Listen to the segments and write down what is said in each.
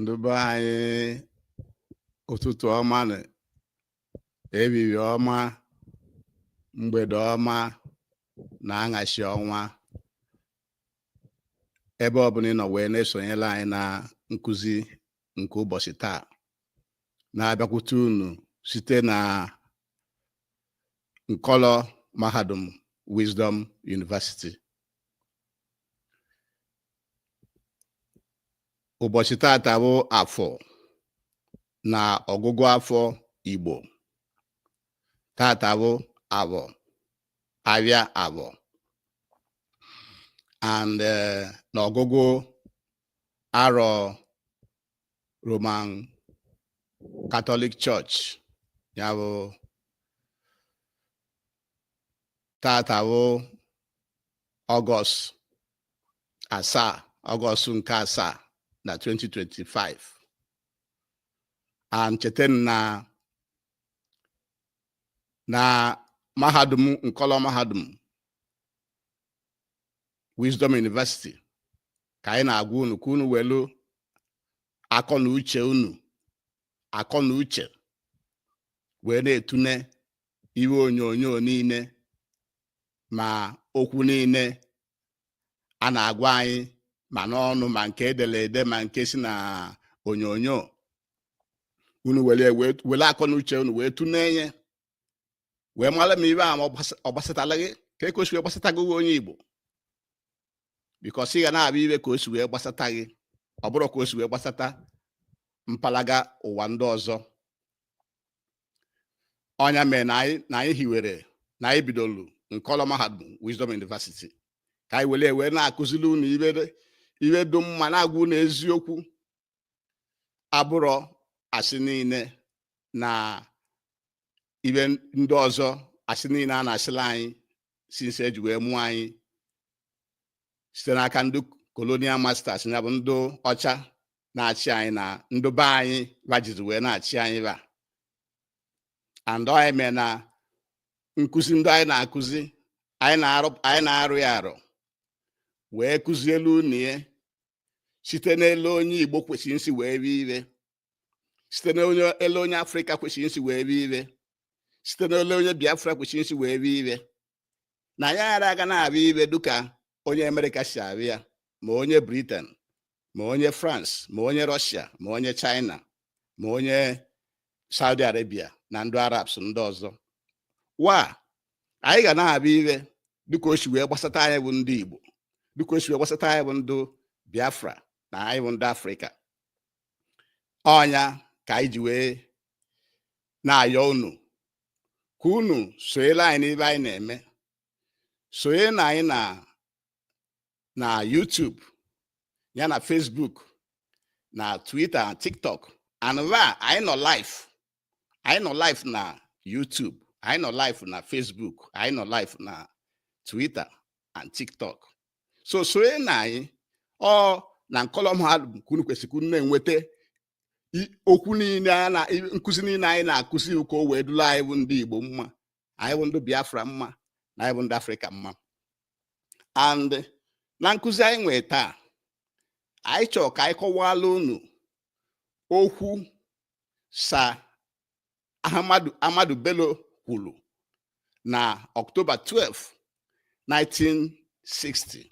ndị be anyị ụtụtụ ọma nụ ehihie ọma mgbede ọma na anyasị ọma ebe ọbụla ị nọ wee na-esonyela anyị na nkụzi nke ụbọchị taa na-abịakwute unu site na nkọlọ mahadum Wisdom University ụbọchị tata bụ afọ na ọgụgụ afọ Igbo tata bụ afọ abịa afọ and eh, na ọgụgụ arọ Roman Catholic Church ya bụ tata bụ ọgọst asaa ọgọst nke asaa na 2025 and cheta na na mahadum nkọlọ mahadum Wisdom University ka anyị na-agwa unu ka unu welu akọ na uche unu akọ na uche unu wee na-etune ife onyonyo niile ma okwu niile a na-agwa anyị ma n'ọnụ ma nke edere ede ma nke si na onyonyo unu were akọ na uche unu wee tune ya wee mara ma ife a ma ọ gbasatala gị ka o si wee gbasata gị nwa onye Igbo because ị ga na-afụ ife ka o si wee gbasata gị ọ bụrọ ka o si wee gbasata mpalaga ụwa ndị ọzọ ọ ya mere na anyị na anyị hiwere na anyị bidolu nkọlọ mahadum Wisdom University ka anyị were wee na-akụziri unu ife dị mma na-agwa unu eziokwu abụrọ asị niile na ife ndị ọzọ asị niile a na-asịla anyị since e ji wee mụọ anyị site n'aka ndị colonial masters ya bụ ndị ọcha na-achị anyị na ndị be anyị fa jizi wee na-achị anyị fa and ọ ya mere na nkụzi ndị anyị na-akụzi anyị na-arụ ya arụ wee kụzielu unu ya site n'elu onye Igbo kwesịrị isi wee fụ ife site n'elu onye Afrịka kwesịrị isi wee fụ ife site n'elu onye Biafra kwesịrị isi wee fụ ife na ya ghara aga na-afụ ife dịka onye Amerịka si afụ ya ma onye Briten ma onye France ma onye Rọshia ma onye China ma onye Saudi Arabia na ndị Arabs ndị ọzọ fa anyị ga na-abịa iwe dịka o si wee gbasata anyị bụ ndị Igbo dịka o si wee gbasata anyị bụ ndị Biafra na anyị bụ ndị Afrịka ọ nya ka anyị ji wee na-ayọ unu ka unu sonyere anyị n'ebe anyị na-eme sonyela anyị na na YouTube ya na Facebook na Twitter na TikTok and ebe anyị nọ live anyị nọ live na YouTube anyị nọ live na Facebook anyị nọ live na Twitter and TikTok so sonyela anyị ọ na nkọlọ mahadum ka unu kwesịrị unu na-enweta okwu niile a na nkụzi niile anyị na-akụzi ka o wee dula anyị bụ ndị Igbo mma anyị bụ ndị Biafra mma na anyị bụ ndị Afrịka mma and na nkụzi anyị nwee taa anyị chọrọ ka anyị kọwala unu okwu Sir Ahmadu Ahmadu Bello kwuru na Ọktoba 12 1960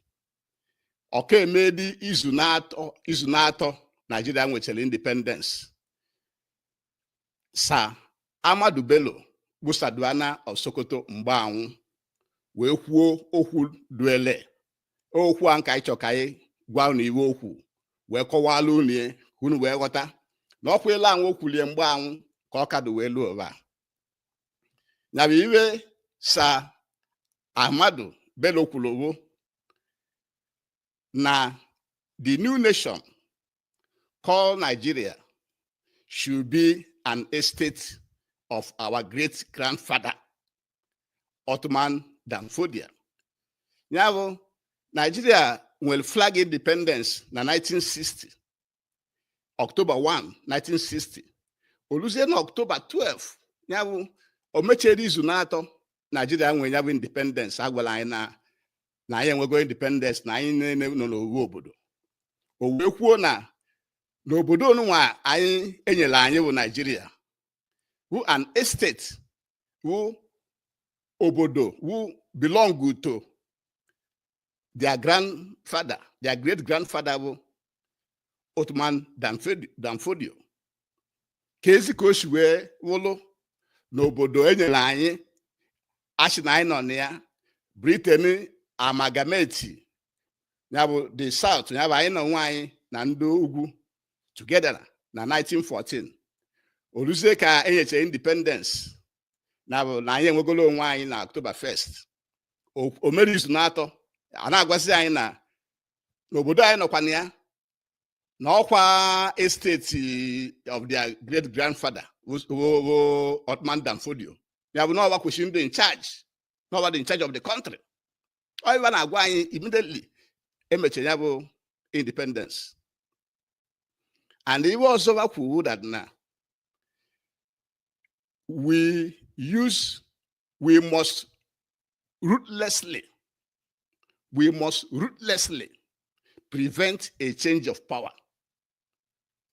ọ ka emedị izu n'atọ izu n'atọ Naijiria nwechara independence Sir Ahmadu Bello bụ Sardauna of Sokoto mgbe anwụ wee kwuo okwu duele okwu anwụ ka anyị chọ ka anyị gwa unu iwe o kwu wee kọwala unu ya ka unu wee ghọta na okwu ele anwụ o kwulie mgbe anwụ ka ọ ka dụ wee luo ụwa nya bụ iwe Sir Ahmadu Bello kwuru bụ na the new nation called Nigeria should be an estate of our great grandfather Othman Dan Fodio. Ya bụ Nigeria nwere flag independence na 1960 October 1 1960 o luzie na October 12 ya bụ o mechere izu n'atọ Nigeria nwere ya bụ independence a gwala anyị na na anyị enwego independence na anyị niile nọ n'owu obodo o wee kwuo na obodo onunwa anyị e nyere anyị bụ Naijiria wu an estate wu obodo wu belong to their grandfather their great grandfather bụ Othman Dan Fodio keezi ka o si wee wụlụ na obodo e nyere anyị a sị na anyị nọ na ya Britain amalgamate ya bụ the South ya bụ anyị na onwe anyị na ndị ugwu together na 1914 o luzie ka e nyechara independence nya bụ na anyị enwegolo onwe anyị na October 1st o mere izu n'atọ a na-agwazi anyị na n'obodo anyị nọkwa na ya na ọkwa estate of their great grandfather ogogo Otman Dan Fodio ya bụ n'ọwa kwesịrị ndị in charge n'ọwa dị in charge of the country ọ ihe ba na-agwa anyị immediately emechara ya bụ independence and iwe ọzọ kwuru that na we use, we must ruthlessly, we must ruthlessly prevent a change of power.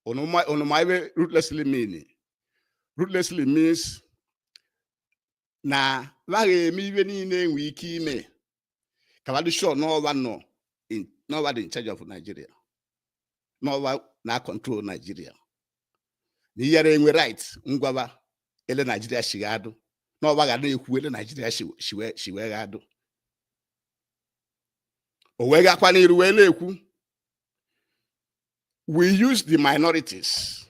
Onomaiwe ruthlessly meaning. Ruthlessly means na laghị eme iwe niile enwe ike ime ka ba dị sure n'ọwa nọ n'ọwa dị in charge of Nigeria n'ọwa na control Nigeria na ị yara enwe right ngwa ba ele Nigeria shi ga-adụ n'ọwa ga na-ekwu ele Nigeria shi wee ga-adụ o wee gakwa n'iru wee na-ekwu we use the minorities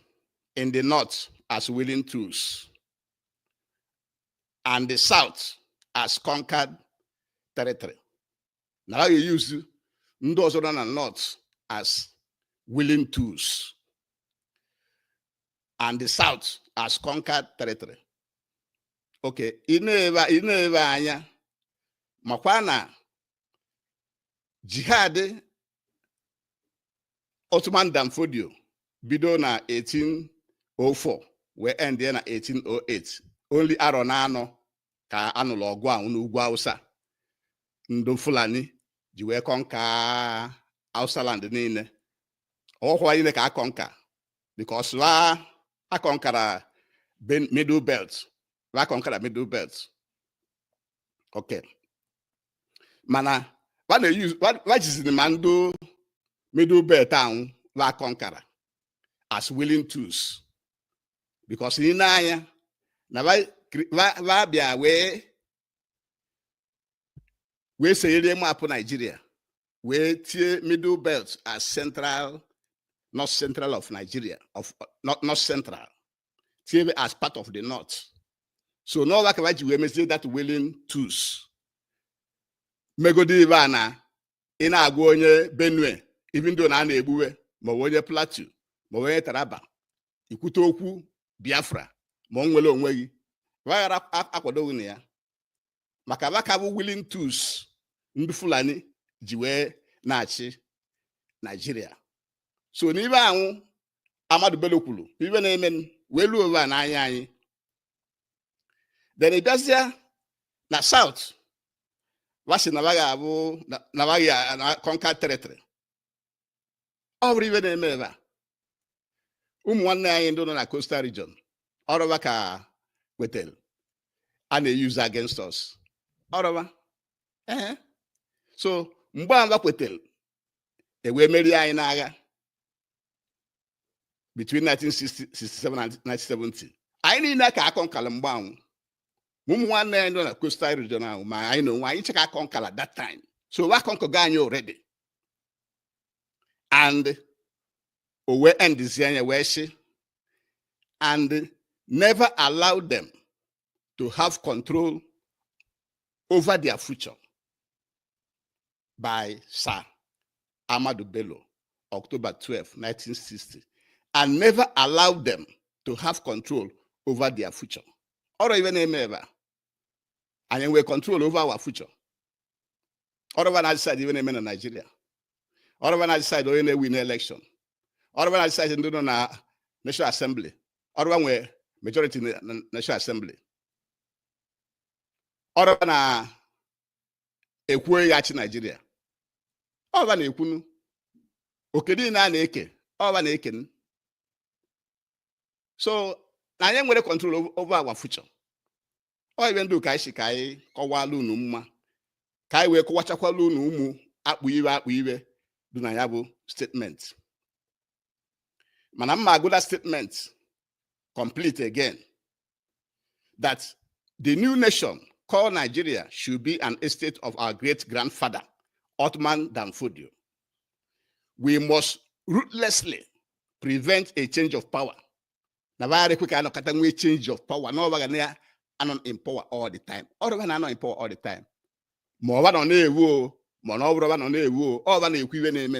in the north as willing tools and the south as conquered territory na ha ga-e-use ndị ọzọ nọ na north as willing tools and the south as conquered territory okay i neba anya makwa na jihad Otman Dan Fodio bido na 1804 wee end ya na 1808 only arọ naanọ ka a nụlụ ọgụ ahụ n'ugwu Hausa ndụ Fulani ji wee conquer Hausa land niile ọhụ wa niile ka a conquer because wa aconquera middle belt wa aconquera middle belt okay mana wa jiziri ma ndị middle belt anwụ wa conquera as willing tools because i nee anya na va bịa wee wee seere map nigeria wee tie middle belt as central north central of nigeria of north central tie as part of the north so n'ọwa ka va ji wee mezie that willing tools megodi ibe a na ị na-agwa onye benue even though na a na-egbu we maọbụ onye plateau maọbụ onye taraba i kwute okwu biafra ma nnwere onwe gị wa yara akwado gị na ya maka ba ka bụ willing tools ndị fulani ji wee na-achị nigeria so n'ibe anwụ ahmadu bello kwuru ibe na-eme wee ruo ebe a n'anya anyị then ị bịazịa na south wa sị na ba ga-abụ na ba ga na conquer territory ọ bụrọ ive na-eme ebe a ụmụ nwanne anyị ndị nọ na coastal region ọ rọ va ka e wetara a na-eyuzu against us ọ rọ va ee so mgbe a kwetara e wee merie anyị n'agha between 1967 and 1970 anyị niile ka a kọnkala mgbe anwụ ụmụ nwanne anyị nọ na coastal region ahụ ma anyị na onwe anyị cha ka a kọnkala that time so a kọnkago anyị already and o wee endizie nya wee sị and never allow them to have control over their future by Sir Ahmadu Bello, October 12, 1960, and never allow them to have control over their future. Ọ rọ ive na-eme ebe a anyị nwee control over our future ọ rọ va na decide ive na-eme na Naịjirịa ọ rọ va na decide onye na-ewin election ọ rọ va na decide ndị nọ na National Assembly ọ rọ va nwe majority na na National Assembly ọ rọ va na-ekwu onye ya-achị Naịjirịa ọ va na-ekwunu oke niile a na-eke ọ va na-eken so na anyị enwerọ control over our future ọ ive ndị ka anyị sị ka anyị kọwala unu mma ka anyị wee kọwachakwala unu ụmụ akpụ ive akpụ ive dị na ya bụ statement mana m ma-agụ the statement complete again that the new nation called Nigeria should be an estate of our great grandfather, Othman Dan Fodio. We must ruthlessly prevent a change of power. na va ayarọ ekwe ka a nọkata nwee change of power na ọ va ga na-anọ in power all the time ọ rọ va na-anọ in power all the time ma ọ va nọ na-ewu o ma na ọ bụrọ va nọ na-ewu o ọ va na-ekwu ive na-eme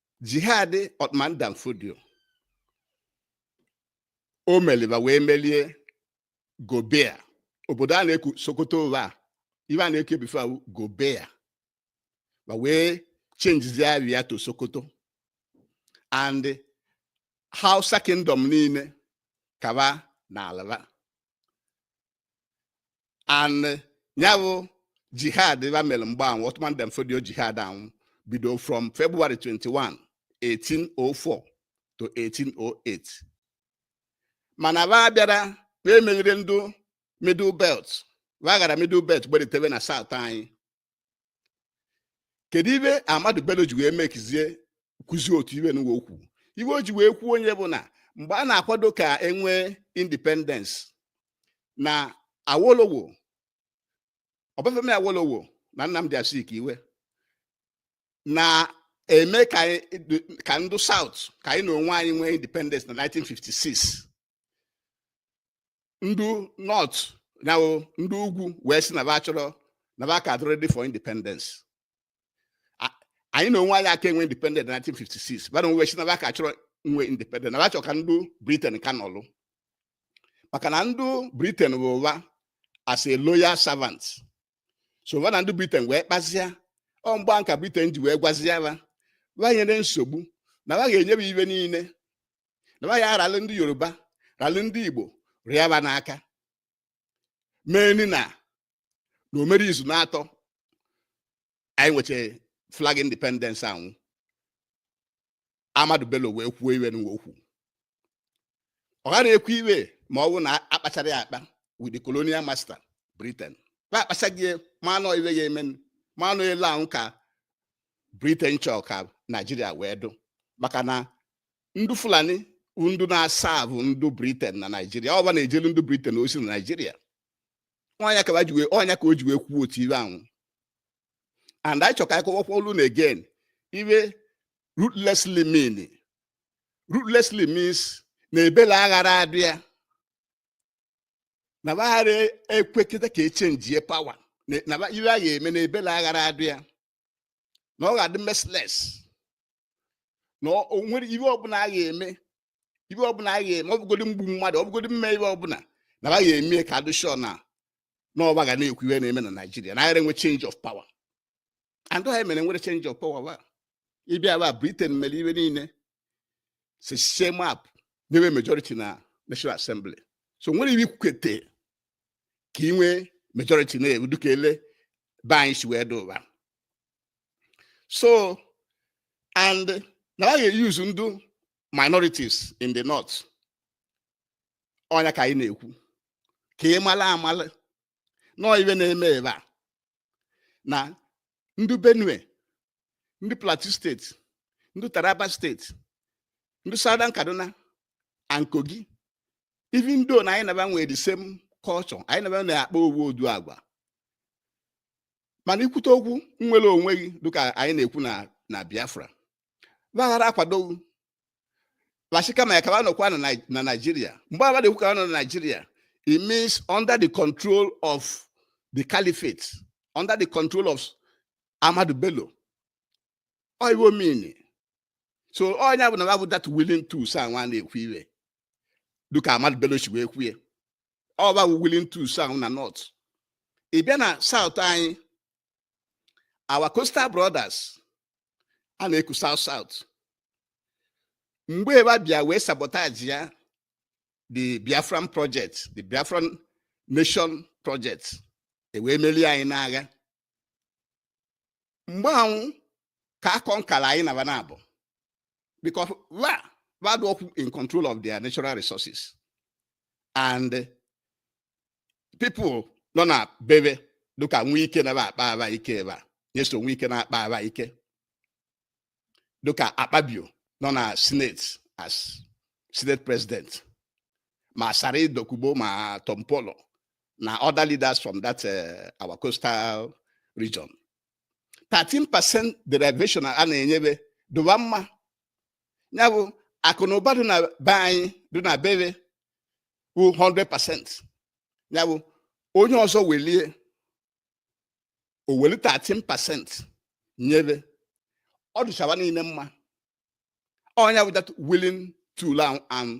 jihad Othman Dan Fodio o meli va wee melie Gobir obodo a na-eku Sokoto ụwa a ive a na-eku e before wụ Gobir va wee chenjizie ava ya to Sokoto and Hausa kingdom niile ka va nala va and ya bụ jihad va mere mgbe anwụ Othman Dan Fodio jihad anwụ bido from February 21 1804 to 1808 mana va bịara va emerirọ ndụ middle belt va gara middle belt gbedatara na south anyị kedu ibe Ahmadu Bello ji wee mekizie kwuzie otu ibe nụwa okwu ibe o ji wee kwuo ọnya bụ na mgbe a na-akwado ka e nwee independence na Awolowo Obafemi Awolowo na Nnamdi Azikiwe na-eme ka ndụ South ka anyị n'onwe anyị nwee independence na 1956 ndị North na ndị ugwu wee sị na ba chọrọ na ba ka adị ready for independence anyị n'onwe anyị aka enwe independence na 1956 ba n'onwe sị na ba ka chọrọ nwee independence na ba chọrọ ka ndị Britain ka nọlụ maka na ndị Britain hụ wa as a loyal servant so ba na ndị Britain wee kpazia ọ mgbe a ka Britain ji wee gwazia ba ba nyere nsogbu na ba ga-enye ba ibe niile na ya ralụ ndị yoruba ralụ ndị igbo rịa ba n'aka mee ni na na o mere izu naatọ anyị nweche flag independence anwụ Ahmadu bello wee kwuo iwe nụwa okwu ọ ghara ekwu iwe ma ọ bụ na a kpachara ya akpa with the colonial master britain ba akpachago ya ma na ọ iwe ya eme ma na ọ ele ahụ ka britain chọrọ ka naijiria wee dụ maka na ndị fulani ndụ na-asavụ ndụ Britain na naijiria ọ ba na-ejelu ndụ Britain ozi na naijiria ọnya ka ọnya ka o ji wee kwuo otu ibe anwụ and anyị chọka akọwakwa olu na again iwe ruthlessly mean ruthlessly means na ebele aghara adị ya na ba aghara ekwekete ka e changie power na iwe a ga-eme na ebele aghara adị ya na ọ ga-adị merciless na o nwere ibe ọbụla a ga-eme ibe ọbụla a ga-eme ọ bụgodi mgbu mmadụ ọ bụgodi mme ibe ọbụla na wa ga-eme ka a dị sure na na ọ ba ga na-ekwu ihe na-eme na Naịjirịa na agara enwe change of power and ọ ya mere nwere change of power wa ịbịa ba Britain mere ibe niile si sie map nyewe majority na National Assembly so nwere ibe ikwukete ka ị nwee majority na-ewu dịka ele be anyị si wee dị ụwa so and na a ga-e use ndụ minorities in the north ọnya ka anyị na-ekwu ka ị mala amala na ọ iwe na-eme ebe a na ndị benue ndị plateau state ndị taraba state ndị southern kaduna and kogi even though na anyị na ba nwere the same culture anyị na ba na-akpa owu ụdị agwa mana i kwute okwu nwere onwe gị dịka anyị na-ekwu na na biafra gbaghara akwado wa sị kama ka wa nọkwa na Nigeria mgbe agha na-ekwu ka nọ na Nigeria it means under the control of the caliphate under the control of Ahmadu Bello ọ iwe ọ mini so ọ ya bụ na wa bụ that willing tools anwa a na-ekwu iwe dịka Ahmadu Bello si wee kwue ọ wa bụ willing tools ahụ na north ị bịa na south anyị our coastal brothers a na-eku south south mgbe wa bịa wee sabotage ya the biafran project the biafran nation project e wee merie anyị n'agha mgbe ahụ ka akọ nkara anyị na wa na-abụ because wa wa adịrọ in control of their natural resources and people nọ na be we dịka wike na-akpaba ike ebe a nyesom wike na-akpaba ike dịka akpabio nọ na senate as senate president ma asari dokubo ma tompolo na other leaders from that uh, our coastal region 13% derivation a na-enye we dụ wa mma ya bụ akụ na ụba dị na be anyị dị na be we bụ 100% ya bụ onye ọzọ welie o weli 13% nye we ọ dịcha wa niile mma ọ nya bụ that willing tool ahụ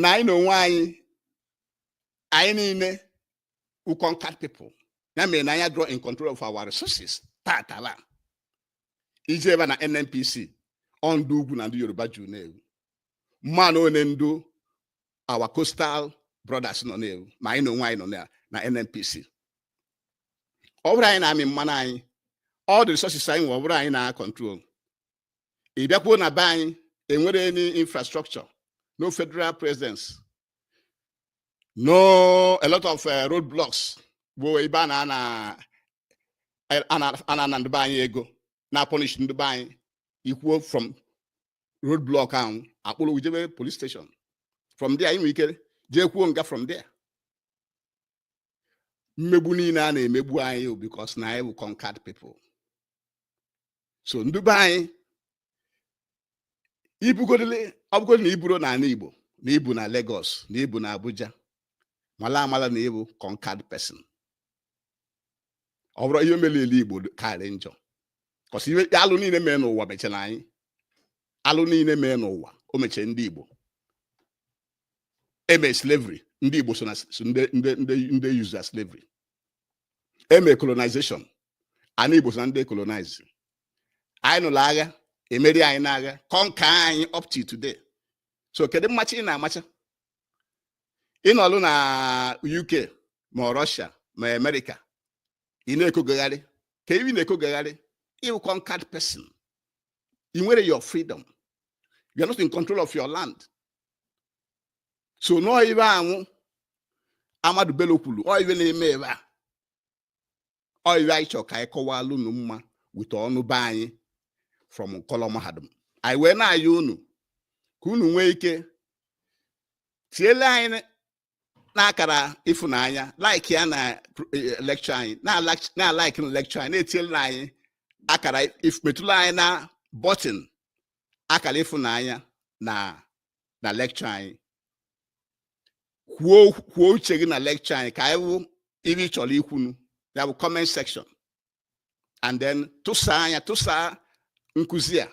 na anyị na onwe anyị anyị niile wụ conquered people ya mere na anyị adịrọ in control of our resources taa taa ị jebe na nnpc ọ ndị ugwu na ndị yoruba juru na-ewu mmanụ ole ndị our coastal brothers nọ na-ewu ma anyị na onwe anyị nọ na na nnpc ọ bụrọ anyị na-amị mmanụ anyị all the resources anyị nwe ọ bụrọ anyị na-control ị bịakwuo na be anyị enwerọ any infrastructure no federal presence no a lot of uh, road blocks bụ ebe a na-ana ana ndị be anyị ego na-apọnish ndị be anyị i kwuo from road block ahụ a kpụrụ gị jebe police station from there i nwere ike jekwuo nga from there mmegbu niile a na-emegbu anyị because na anyị bụ conquered people so ndị be anyị i bugodu ọ bụgodị na i burọ n'ala Igbo na i bu na Lagos na i bu na Abuja mala amala na ị bụ conquered person ọ bụrụ ihe mere ele Igbo karị njọ kọsi iwe alụ niile mee n'ụwa mechara anyị alụ niile mee n'ụwa o mechaa ndị Igbo eme slavery ndị Igbo so na ndị use as slavery eme colonization ana Igbo so na ndị colonize anyị nụrụ agha emeri anyị n'agha conquer anyị up to today so kedu mmacha ị na-amacha ị nọlụ na UK ma Russia ma America ị na-ekogagharị ka ị na-ekogagharị ị wụ conquered person i nwerọ your freedom you are not in control of your land so nọọ iwe anwụ Ahmadu Bello kwuru ọ iwe na-eme ụwa a ọ iwe anyị chọrọ ka anyị kọwalụ unu mma with ọnụ be anyị from nkọlọ mahadum anyị wee na-ayọ unu ka unu nwee ike tiele anyị n'akara ịfụnanya like ya na eh, lecture anyị na-alaiki na lecture anyị na-etinyela anyị akara metụla anyị na button akara ịfụnanya na na lecture anyị kwuo kwuo uche gị na lecture anyị ka anyị wụ iwe ị chọrọ ikwu na ya wụ comment section and then tụsaa nya tụsaa nkụzi a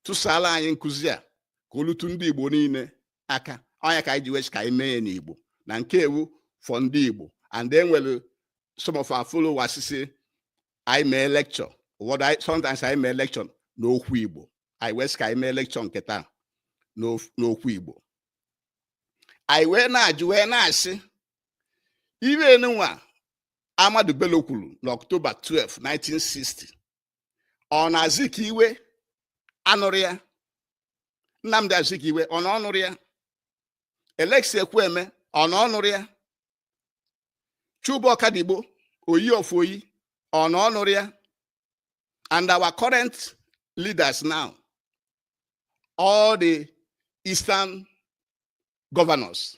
tụsaala anyị nkụzi a ka o lute ndị Igbo niine aka ọ nya ka anyị ji wee sị ka anyị mee ya n'Igbo na nke a wụ for ndị Igbo and e nwere some of our followers sị anyị mee lecture ụfọdụ sometimes anyị mee lecture n'okwu Igbo anyị wee sị ka anyị mee lecture nke taa n'okwu Igbo anyị wee na-ajụ wee na-asị iwe nụwa Ahmadu Bello kwuru n'Ọktoba 12, 1960 ọ na Azikiwe anụrọ ya Nnamdi Azikiwe ọ na ọ nụrọ ya Alex Ekwueme ọ na ọ nụrọ ya Chuba Okadigbo oyi of oyi ọ na ọ nụrọ ya and our current leaders now all the eastern governors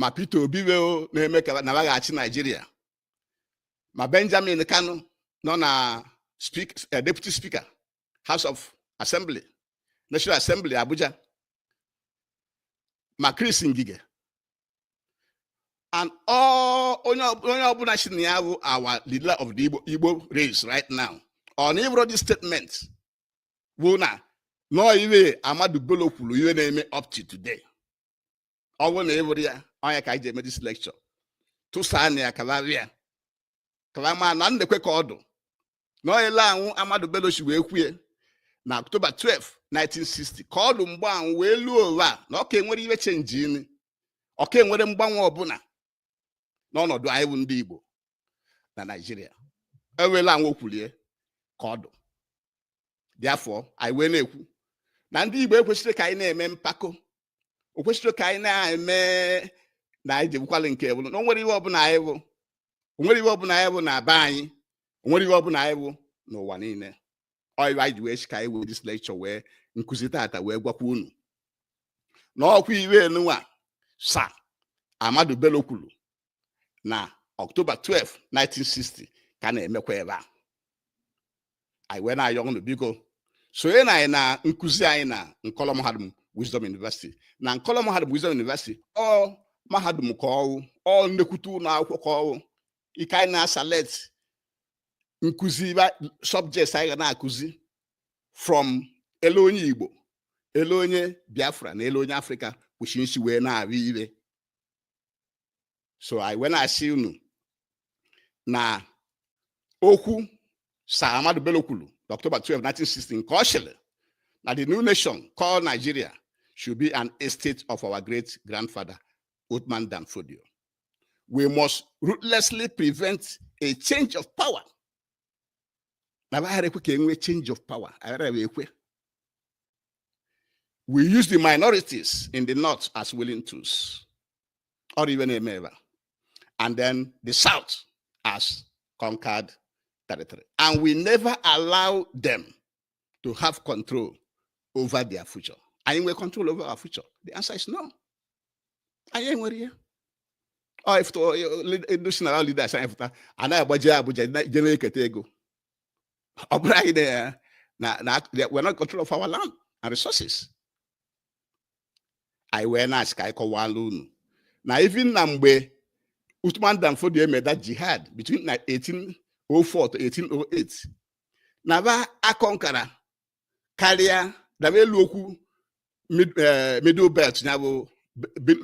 ma Peter Obi wee na-eme ka na wa ga-achị Naijiria ma Benjamin Kanu nọ na eh, deputy speaker House of Assembly National Assembly Abuja ma Chris Ngige and all onye ọbụla sị na ya bụ our leader of the Igbo race right now ọ na ị wụrọ this statement wụ na nọọ iwe Ahmadu Bello kwuru iwe na-eme up to today ọ bụrụ na ị wụrọ ya ọ nya ka anyị ji eme this lecture tụsaa nya ka ọra wụ ya ka ọra ma na nekwe ka ọ dụ na ọyele anwụ Ahmadu Bello si wee kwue na October 12 1960 ka ọ dụ mgbe anwụ wee luo ụwa na ọ ka enwerọ iwe chenjini ọ ka enwerọ mgbanwe ọbụla n'ọnọdụ anyị bụ ndị Igbo na Naịjirịa ewela anwụ o kwulie ka ọ dụ therefore anyị wee na-ekwu na ndị Igbo ekwesịrị ka anyị na-eme mpako o kwesịrị ka anyị na-eme na anyị jebukwala nke bụrụ na onwere ihe ọbụla anyị bụ onwere ihe ọbụla anyị bụ na be anyị onwere ihe ọbụla anyị bụ n'ụwa niile ọyịwa anyị ji wee sị ka anyị wee this lecture wee nkụzi tata wee gwakwa unu na ọkwa ihe nunwa Sir Ahmadu Bello kwuru na October 12 1960 ka na-emekwa ebe a anyị wee na-ayọ unu biko sonye na anyị na nkụzi anyị na nkọlọ mahadum Wisdom University na nkọlọ mahadum Wisdom University ọ mahadum ka ọ wụ ọ nnekwute ụlọ akwụkwọ ka ọ wụ ike anyị na-aselect nkụzi subjects anyị ga na-akụzi from ele onye Igbo ele onye Biafra na ele onye Afrịka kwesị isi wee na-ahụ ihe so anyị wee na-asị unu na okwu Sir Ahmadu Bello kwuru n'October 12 1960 nke ọ sịrị na the new nation called Nigeria should be an estate of our great grandfather Uthman Dan Fodio we must ruthlessly prevent a change of power na aghara ekwe ka enwee change of power aghara ekwe we use the minorities in the north as willing tools or even a member and then the south as conquered territory and we never allow them to have control over their future anyị nwere control over our future the answer is no anyị enwerọ ya national leaders anyị pụta anaghị agbaje Abuja je na-eketa ego ọ bụrụ anyị na na we're not control of our land and resources anyị wee na-asị ka anyị kọwala unu na even na mgbe Uthman Dan Fodio eme that jihad between 1804 to 1808 na ba aconquera karịa daba elu okwu eh, middle belt ya bụ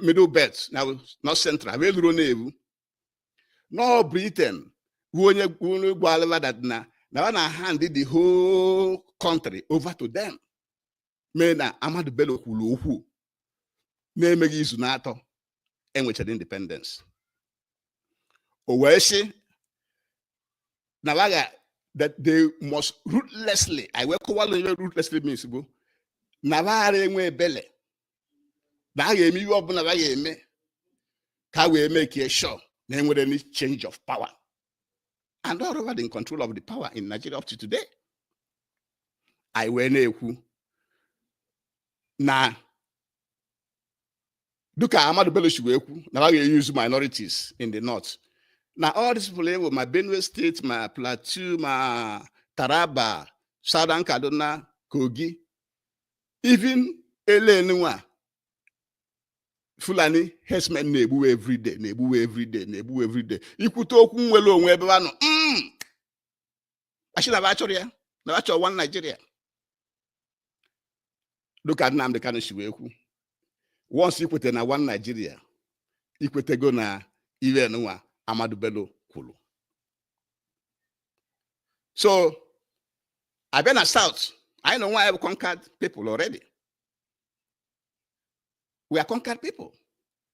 middle belt ya bụ north central bụ eluro na-ebu na ọ Britain bụ onye onye gwalụ ba that na na ọ na hand the whole country over to them mee na Ahmadu Bello kwuru okwu na-emeghị izu n'atọ e nwechara independence o wee sị na ba ga that they must ruthlessly I wee kọwalụ ihe ruthlessly means bụ na ba aghara enwe ebele na a ga-eme ihe ọbụla a ga-eme ka a wee make sure na enwerọ any change of power and ọ ba dị in control of the power in Nigeria up to today anyị wee na-ekwu na dịka Ahmadu Bello si wee kwu na ha ga-euse minorities in the north na all these people ị hụ ma Benue State ma Plateau ma Taraba Southern Kaduna Kogi even ele nunwa Fulani herdsmen na-egbuwe everyday na-egbuwe everyday na-egbuwe everyday i kwute okwu nnwere onwe ebe ha nọ mm. a sị na ba chọrọ ya na ba chọ one Nigeria dịka Nnamdị Kanu si wee kwu once ikweta na one Nigeria ikwetego na iwe nwa Ahmadu Bello kwuru so abịa na South anyị nwa bụ conquered people already we are conquered people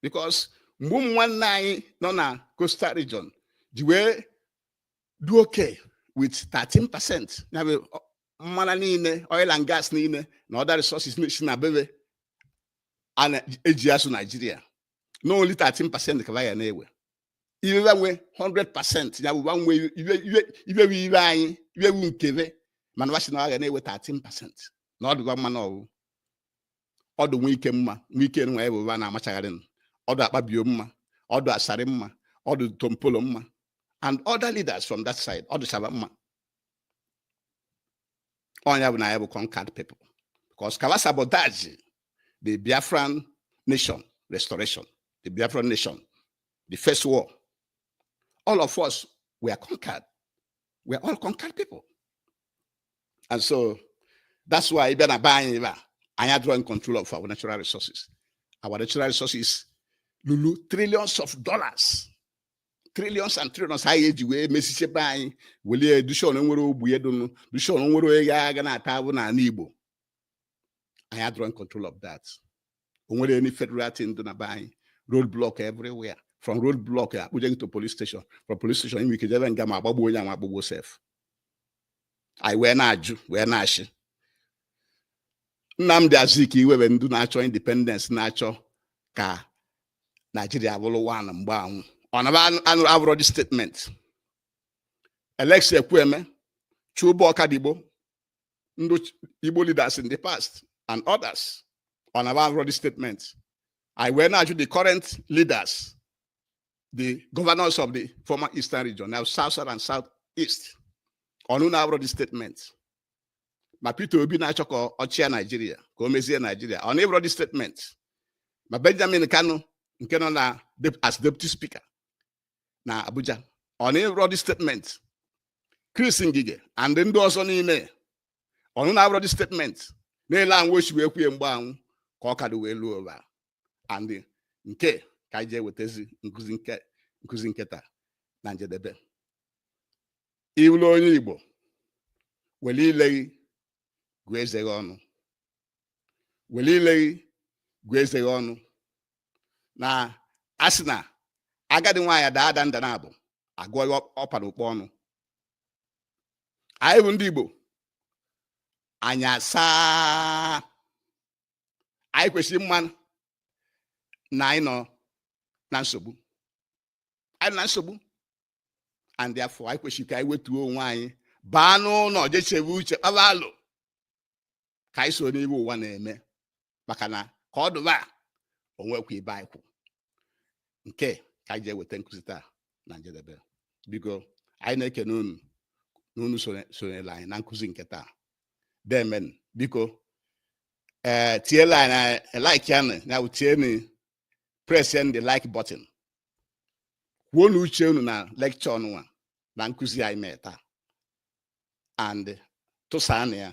because mgbe ụmụ nwanne anyị nọ na coastal region ji wee dị okay with 13 percent ya bụ mmanụ niile oil and gas niile na other resources si na be be eji azụ naijiria na only 13 percent ka wa ga na-ewe iwe wa nwe 100 percent ya bụ wa nwe iwe wu iwe anyị iwe wu nke be mana wa sị na wa ga na-ewe 13 percent na ọ dị wa mma na ọ wụ ọ dụ Wike mma Wike nwa ya bụ ụba na-amachagharị ọ dụ Akpabio mma ọ dụ Asari mma ọ dụ Tompolo mma and other leaders from that side ọ dụsa ba mma ọ ya bụ na anyị bụ conquered people because ka ba sabotage the Biafran nation restoration the Biafran nation the first war all of us were conquered we are all conquered people and so that's why ị bịa na be anyị ebe a anyị adịrọ in control of our natural resources our natural resources lulu trillions of dollars trillions and trillions a ya-eji wee mezisie be anyị welie dozie na o nwerọ ogbenye dịnụ dozie na o nwerọ onye ga na-ata afụfụ n'ala Igbo anyị adịrọ in control of that o nwerọ any federal thing dị na be anyị road block everywhere from road block a kpụje gị to police station from police station i nwe ike jebe nga ma agbagbuo onye anwa agbagbuo sef anyị wee na-ajụ wee na-asị Nnamdi Azikiwe be ndị na-achọ independence na-achọ ka Naijiria bụrụ one mgbe anwụ ọ na ba afụrọ the statement Alex Ekwueme Chuba Ọkadigbo ndị Igbo leaders in the past and others ọ na ba afụrọ the statement anyị wee na-ajụ the current leaders the governors of the former eastern region now south south and south east ọ na unu afụrọ the statement ma Peter Obi na-achọ ka ọ chịa Naijiria ka o mezie Naijiria ọ na ọ fụrọ the statement ma Benjamin Kanu nke nọ na as deputy speaker na Abuja ọ na ọ fụrọ the statement Chris Ngige and ndị ọzọ niile ọ na unu afụrọ the statement na-ele anwụ o si wee kwuo mgbe anwụ ka ọ ka dụ wee luo ugbua and nke a ka anyị ji ewetazi nkụzi nke taa na njedebe ị wụlụ onye Igbo were ile gị gụọ eze gị ọnụ were ile gị gụọ eze gị ọnụ na asị na agadi nwaanyị daa ada nda naabọ a gụọ ihe ọ pa n'ukpa ọnụ anyị bụ ndị Igbo anya asaa anyị kwesịrị ịma na anyị nọ na nsogbu anyị nọ na nsogbu and therefore anyị kwesịrị ka anyị wetuo onwe anyị baa n'ụlọ je chebe uche kpaba alo ka anyị soro n'ihe ụwa na-eme maka na ka ọ dụba o nwekwa ebe anyị kwụ nke a ka anyị ji eweta nkụzi taa na njedebe biko anyị na-ekene unu na unu sonyere anyị na nkụzi nke taa deeme biko ee eh, tielu anyị na eh, like ya na bụ tienu press the like button kwuonụ uche unu na lecture nụnwa na nkụzi anyị mee taa and tụsaanụ ya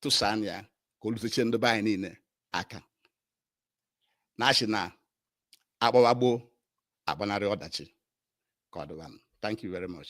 tụsaanụ ya ka o lutechie ndị be anyị niile aka na asị na agbawa gboo agbanarị ọdachi ka ọ dịwanụ thank you very much